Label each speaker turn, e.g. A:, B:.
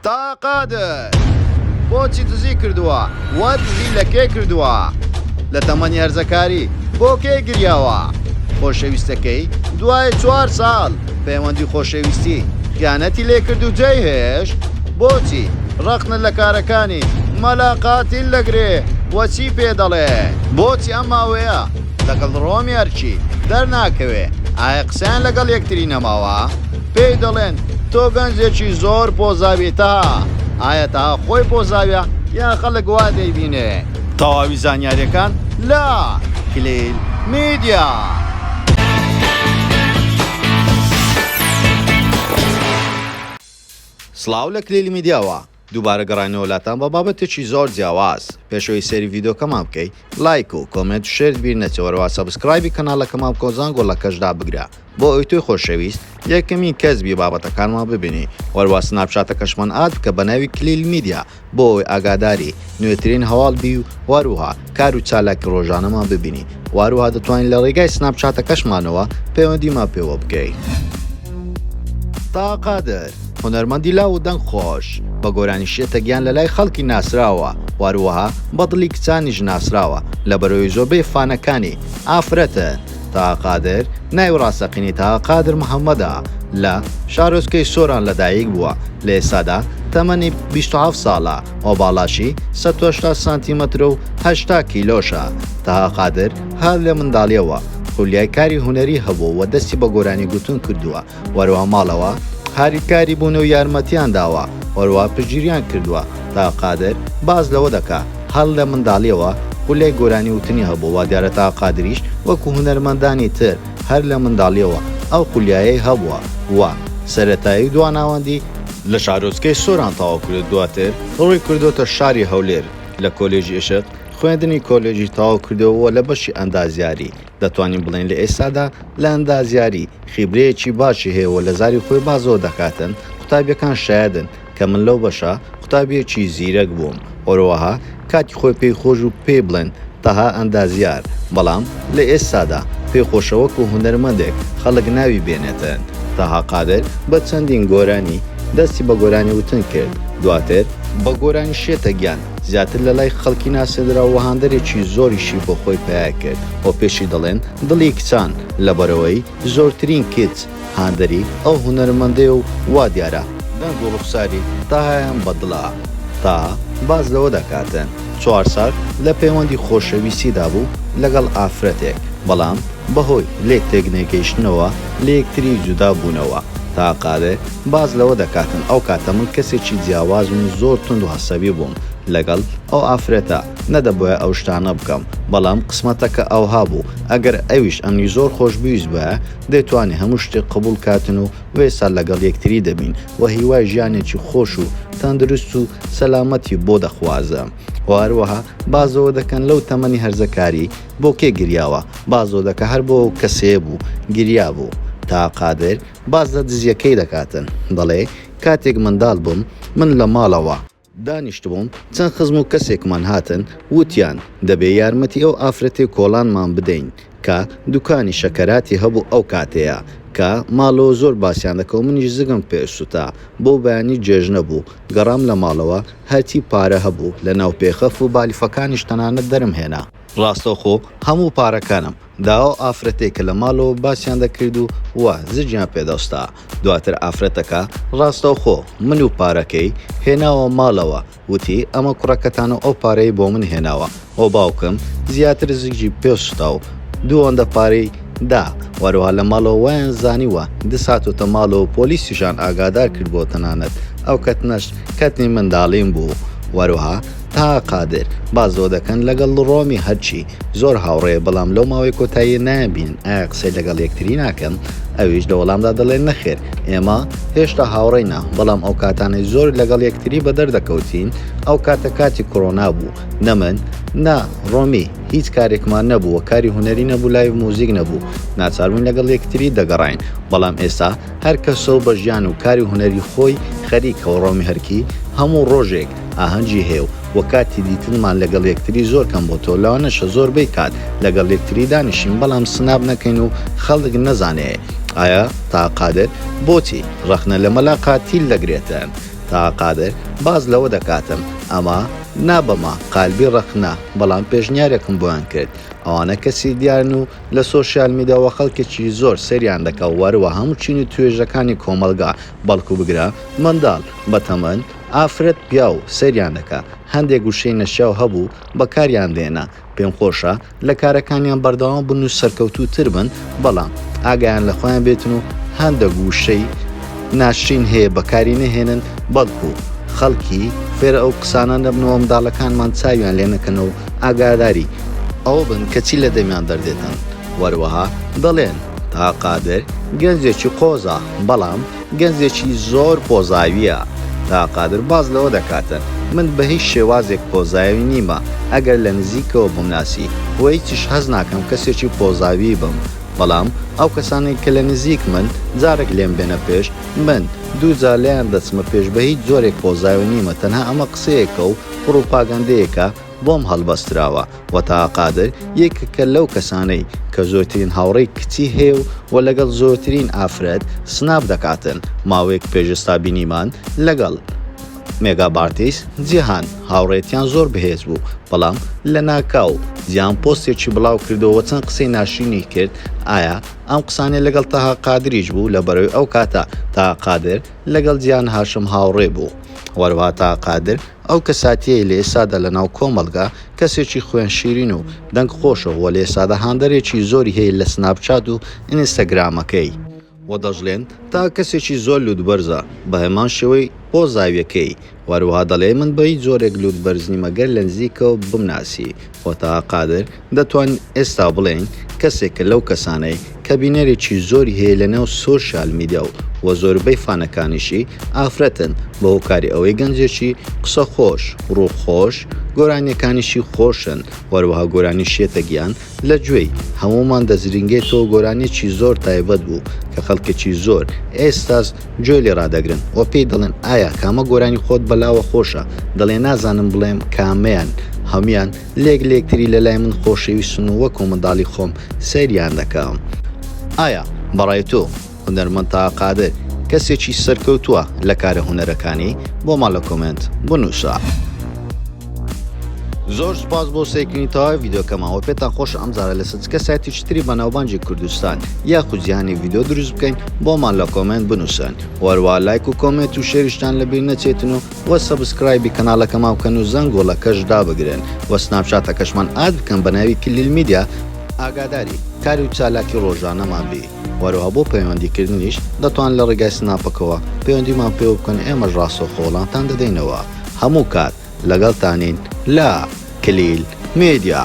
A: تا قادر بۆچی دزی کردووە وە دزی لە کێ کردووە لە تەمەنی هەرزەکاری بۆ کێ گریاوە خۆشەویستەکەی دوای چوار ساڵ پەیوەندی خۆشەویستی خیانەتی لێکرد و جێ هێش بۆچی ڕەخنە لە کارەکانی مەلاقاتیل دەگرێ وەچی پێ دەڵێ بۆچی ئەم ماوەیە لەگەڵ ڕۆمی ئەرکی دەرناکەوێ ئایا قسەیان لەگەڵ یەکتری نەماوە؟ پێی دەڵێن تۆ گەنجێکی زۆر پۆزاوی تەها ئایا تەها خۆی پۆزاویە یا خەڵک وا دەیبینێ تەواوی زانیاریەکان لە کلیل میدیا. سڵاو لە کلیل میدیاوە دووبارە گەڕاینەوە لاتان بە بابەتێکی زۆر جیاواز. پێشەوەی سەیری ڤیدۆکەمان بکەی لایک و کۆمێنت و شێرت بیر نەچێ وەرەوا سەبسکرایبی کەنالەکەمان بکەو زانگۆڵەکەش دابگرە بۆ ئەوی تۆی خۆشەویست یەکەمین کەس بی بابەتەکانمان ببینی وەروا سناپشاتەکەشمان ئاد بکە بەناوی کلیل میدیا بۆ ئەوەی ئاگاداری نوێترین هەواڵ بی و وەروها کار و چالاکی ڕۆژانەمان ببینی و هەروەها دەتوانین لە ڕێگای سناپ چاتەکەشمانەوە پەیوەندیمان پێوە بکەی. تا قادر هونەرمەندی لاو و دەنگ خۆش بە گۆرانی شێتە گیان لە لای خەڵکی ناسراوە واروەها بە دڵی کچانیش ناسراوە لە بەرۆی زۆربەی فانەکانی ئافرەتن تا قادر ناوی ڕاستەقینی تا قادر محەممەدە لە شارۆچکەی سۆران لەدایک بووە لە ئێستادا تەمەنی 27 ساڵە ئۆڤاڵاشی سەد و هەشتا سانتیمەترە و هەشتا کیلۆشە. تەها قادر هەر لە منداڵییەوە خولیای کاری هونەری هەبووە و دەستی بە گۆرانی گوتن کردووە و هەروەها ماڵەوە هاریکاری بوونە و یارمەتییان داوە و هەروەها پشتگیرییان کردووە. تەها قادر باس لەوە دەکا، هەر لە منداڵییەوە خولیای گۆرانی وتنی هەبووە، وا دیارە تەها قادریش وەکوو هونەرمەندانی تر هەر لە منداڵییەوە ئەو خولیایەی هەبووە و سەرەتایی و دواناوەندی لە شارۆچکەی سۆران تەواو کردو دواتر ڕووی کردۆتە شاری هەولێر، لە کۆلێژی ئێشق خوێندنی کۆلێژی تەواو کردووە و لە بەشی ئەندازیاری، دەتوانین بڵێین لە ئێستادا لە ئەندازیاری خیبرەیەکی باشی هەیە و لە زاری خۆی باس لەوە دەکاتن قوتابیەکان شایەدن کە من لەو بەشە قوتابیەکی زیرەک بووم. هەروەها کاتی خۆی پێی خۆش بوو پێی بڵێن تەها ئەندازیار، بەڵام لە ئێستادا پێی خۆشە وەکو هونەرمەندێک خەڵک ناوی بێنێتن. تەها قادر بە چەندین گۆرانی دەستی بە گۆرانی وتن کرد، دواتر، بە گۆرانی شێتە گیان زیاتر لە لای خەڵکی ناسێندرا و هاندەرێکی زۆریشی بۆ خۆی پەیا کرد و پێشی دەڵێن دڵی کچان، لەبەرئەوەی زۆرترین کچ، هاندەری ئەو هونەرمەندەیە و وا دیارە دەنگ و ڕوخساری تاهایان بە دڵە. تاها باس لەوە دەکاتن چوار ساڵ لە پەیوەندی خۆشەویستیدا بوو لەگەڵ ئافرەتێک، بەڵام بە هۆی لێک تێکنەگەیشتنەوە لە یەکتری جودا بوونەوە. تاها قادر باس لەوە دەکاتن ئەو کاتە من کەسێکی جیاوازم و زۆر توند و هەسەبی بووم لەگەڵ ئەو ئافرەتە، نەدەبوایە ئەو شتانە بکەم، بەڵام قسمەتەکە ئەوها بوو، ئەگەر ئەویش ئەمنی زۆر خۆش بویستبایە دەیتوانی هەموو شتێک قبوڵ کاتن و وەیسا لەگەڵ یەکتری دەبین وە هیوای ژیانێکی خۆش و تەندروست و سەلامەتی بۆ دەخوازم وە هەروەها بازەوە دەکەن لەو تەمەنی هەرزەکاری بۆ کێ گریاوە بازەوە دەکە هەر بۆ ئەو کەسەیە بوو گریا بوو تا قادر باس لە دزیەکەی دەکاتن دەڵێ کاتێک منداڵ بووم من لە ماڵەوە دانیشتبووم چەند خزم و کەسێکمان هاتن ووتیان دەبێ یارمەتی ئەو ئافرەتێ کۆڵانمان بدەین کە دوکانی شەکەراتی هەبوو ئەو کاتەیە کە ماڵەوە زۆر باسیان دەکەو منیش زگم پئ سوتا بۆ بەیانی جێژنە بوو گەڕام لە ماڵەوە هەرچی پارە هەبوو لە ناو پێخەف و بالیفەکانیش تەنانەت دەرم هێنا ڕاستەوخۆ هەموو پارەکانم دا ئەو ئافرەتەی کە لە ماڵەوە باسیان دەکرد و وا زجیان پێ دەوستا، دواتر ئافرەتەکە ڕاستەوخۆ من و پارەکەی هێناوە ماڵەوە، وتی ئەمە کوڕەکەتان و ئەو پارەی بۆ من هێناوە و باوکم زیاتر زجی پێ سوتا و دوو ئەوەندە پارەی دا، وەروەها لە ماڵەوە وایان زانیوە دز هاتۆتە ماڵەوە پۆلیسیشان ئاگادار کردبووە تەنانەت ئەو کەتنەش کەتنی منداڵیم بوو، وەروەها. تا قادر بازۆ دەکەن لەگەڵ ڕۆمی هەرچی زۆر هاوڕێ بەڵام لەو ماوەی کۆتایی نایانبینن ئایا قسەی لەگەڵ یەکتری ناکەن ئەویش لە وەڵامدا دەڵێن نەخێر ئێمە هێشتا هاوڕێینا بەڵام ئەو کاتانەی زۆر لەگەڵ یەکتری بە دەردەکەوتین ئەو کاتە کاتی کۆرۆنا بوو نە من نە ڕۆمی هیچ کارێکمان نەبووە کاری هوەری نەبوو لای موزیک نەبوو ناچاربووین لەگەڵ یەکتری دەگەڕین بەڵام ئێستا هەر کەسە و بە ژیان و کاری هوەری خۆی خەریکەوە ڕۆمی هەرکی هەموو ڕۆژێک ئاهەنگی هەیە و وە کاتی دیتنمان لەگەڵ یەکتری زۆر کەم بۆتەوە لەوانەشە زۆر بەی کات لەگەڵ یەکتری دانیشین بەڵام سناپ نەکەین و خەڵک نەزانێ ئایا تاها قادر بۆچی ڕەخنە لە مەلا قاتیل دەگرێتن تاها قادر باس لەوە دەکاتم ئەمە نا بەما قالبی ڕەخنە بەڵام پێشنیارێکم بۆیان کرد ئەوانە کەسی دیارن و لە سۆشیال میدیا وە خەڵکێکی زۆر سەیریان دەکا وەروە هەموو چین و توێژەکانی کۆمەڵگا بەڵکو بگرە منداڵ بەتەمەن ئافرەت پیاو سەیریان دەکا هەندێک وشەی نەشیاو هەبوو بەکاریان دێنا پێم خۆشە لە کارەکانیان بەردەوام بن و سەرکەوتوو تر بن بەڵام ئاگایان لە خۆیان بێتن و هەندەک وشەی ناشرین هەیە بەکاری نەهێنن بەڵکو خەڵکی فێرە ئەو قسانە نەبنەوە منداڵەکانمان چاویان لێ نەکەن و ئاگاداری ئەوە بن کە چی لە دەمیان دەردێتن وەروەها دەڵێن تا قادر گەنجێکی قۆزە بەڵام. گەنجێکی زۆر پۆزاوییە. تا قادر باس لەوە دەکاتە، من بە هیچ شێوازێک پۆزاوی نیمە، ئەگەر لە نزیکەوە بمناسی، بۆ هیچیش هەست ناکەم کەسێکی پۆزاوی بم، بەڵام ئەو کەسانەی کە لە نزیکمن، جارێک لێم بێنە پێش، من دوو جار لێیان دەچمە پێش بە هیچ جۆرێک پۆزاوی نیمە، تەنها ئەمە قسەیەکە و پڕوپاگەندەیەکە بۆم هەڵبەستراوە. و تاها قادر یەکێکە لەو کەسانەی کە زۆرترین هاوڕێی کچی هەیە و و لەگەڵ زۆرترین ئافرەت سناپ دەکاتن ماوەیەک پێش ئێستا بینیمان لەگەڵ مێگا بارتیس جیهان هاوڕێتیان زۆر بەهێز بوو بەڵام لە ناکاو جیان پۆستێکی بڵاو کردەوە چەند قسەی ناشینی کرد ئایا ئەم قسانێ لەگەڵ تاها قادریش بوو لە بەرەوەی ئەو کاتە تا قادر لەگەڵ جیان هاشم هاوڕێ بوو وەروها تا قادر ئەو کەساتیەی لە ئێستادا لە ناو کۆمەڵگا کەسێکی خوێن شیرین و دەنگ خۆشە وە لە ئێستادا هاندەرێکی زۆری هەیە لە سناپ چات و ئینستاگرامەکەی وە دەشڵێن تا کەسێکی زۆر لوتبەرزە بە هەمان شێوەی بۆ زاویەکەی وە هەروەها دەڵێ من بە هیچ جۆرێک لوتبەرز نیمە گەر لە نزیکەوە بمناسی وە تاها قادر دەتوانین ئێستا بڵێین کەسێکە لەو کەسانەی کە بینەرێکی زۆری هەیە لەناو سۆشیال میدیا و وە زۆربەی فانەکانیشی ئافرەتن بە هۆکاری ئەوەی گەنجێکی قسە خۆش ڕوو خۆش گۆرانیەکانیشی خۆشن وەروەها گۆرانی شێتە گیان لە گوێی هەموومان دەزرینگێتەوە گۆرانیەکی زۆر تایبەت بوو کە خەڵکێکی زۆر ئێستاس گوێ لێ ڕادەگرن وە پێی دەڵێن ئایا کامە گۆرانی خۆت بەلاوە خۆشە دەڵێ نازانم بڵێم کامەیان هەمویان لێک لێک تری لە لای من خۆشەویستن و وەکو منداڵی خۆم سەیریان دەکەم. ئایا بەڕای تۆ هونەرمەند تاها قادر کەسێکی سەرکەوتووە لە کارە هونەرەکانی؟ بۆمان لە کۆمێنت بنووسە. زۆر سپاس بۆ سەیرکردنی تەواوی ڤیددیوکەمان وە پێتان خۆش ئەم زارە لەسەر چکە سایتیش تری بە ناوبانجی کوردستان یاخود جیهانی ڤیددیو دروست بکەین بۆمان لە کۆمنت بنووسن وەروە لایک و کۆمێت و شێریشتان لەبیر نەچێتن و وە سەبسکرایبی کەنالەکەمان بکەن و زەنگۆڵەکەش دابگرن وە سناپچاتەکەشمان ئاد بکەن بە ناوی کلیل میدیا، ئاگاداری کار و چالاکی ڕۆژانەمان بی وەروەها بۆ پەیوەندی کردنیش دەتوان لە ڕێگای سناپەکەوە پەیوەندیمان پێوە بکەن ئێمەش ڕاستەوخۆ وەڵامتان دەدەینەوە هەموو کات لەگەڵتانین لە کلیل میدیا.